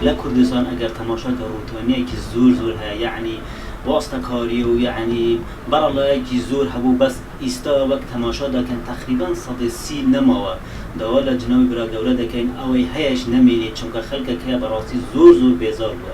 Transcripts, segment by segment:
لە کوردستان ئەگەر تەماشا کە ڕوتۆنیەکی زور زور هەیە یەعنی واستە کاری و یەعنی بەڕەڵایەکی زور هەبوو بەس ئیستا وەک تەماشا دەکەن تەقریبەن سەدەی سی نەماوە داوا لە جنابی برا گەورە دەکەین ئەوەی هەیەش نەمینێت چونکە خەلکەکە بەڕاستی زور زور بێزار بوە.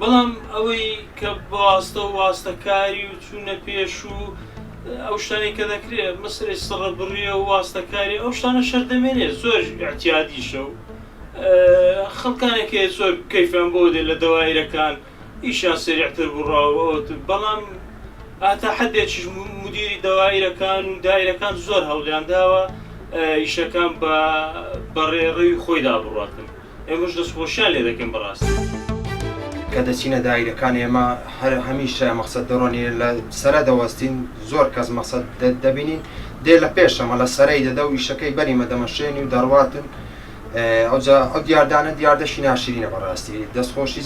بەڵام ئەوەی کە بەواستە و واستەکاری و چوونە پێش و ئەو شتانەی کە دەکرێ مەسەلەی سڕبڕیە و واستەکاری ئەو شتانە شەر دەمێنێ زۆر ئیعتیادیشە و خەڵکانێک هەیە زۆر کەیفیان بۆ دێ لە دەوایرەکان ئیشیان سەریعتر بڕا و ئەوت بەڵام ئاتا حەدێکیش مدیری دەوایرەکان و دایرەکان زۆر هەوڵیان داوە ئیشەکان بە بە ڕێڕەوی خۆیدا بڕاتن. ئێمەش دەستخۆشیان لێ دەکەین بەڕاستی. کە دەچینە دایرەکان ئێمە هەر هەمیشە مەقسەد دڕۆنی لە سەرە دەوەستین زۆر کەس مەقسەد دەبینین دێ لە پێشەمە لە سەرەی دەدە و ئیشەکەی بەریمە دەمەشێنی و دەڕواتن ئەوجا ئەو دیاردانە دیاردەشی ناشرینە بەڕاستی دەستخۆشی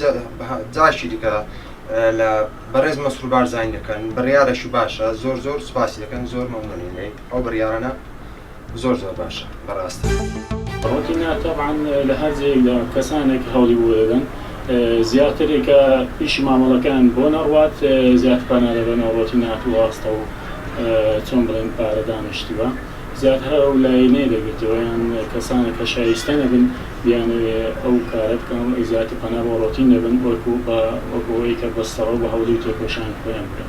جاشی دیکە لە بەڕێز مەسرور بارزانانی دەکەن بڕیارەش باشە زۆر زۆر سوپاسی دەکەن زۆر مەمنونی لێ ئەو بڕیارانە زۆر زۆر باشە بەڕاستی. ڕۆتینا تەبعەن لە هەر جێیەکدا کەسانێک هەوڵی بۆ دەدەن زیاتر کە ئیشی مامەڵەکەیان بۆ نەڕوات زیاتر پەنا دەبەنەوە ڕۆتین هاتوو ڕاستە و چۆن بڵێن پارە دانیشتووە زیاتر ئەو لایەنەی دەگرتەوە یان کەسانێک کە شایستە نەبن بیانەوێ ئەو کارە بکەن و زیاتر پەنا بۆ ڕۆتین دەبەن وەکو بە وەکو ئەوەی کە بەستەڕۆ بە هەوڵی و تێکۆشانی خۆیان بکەن.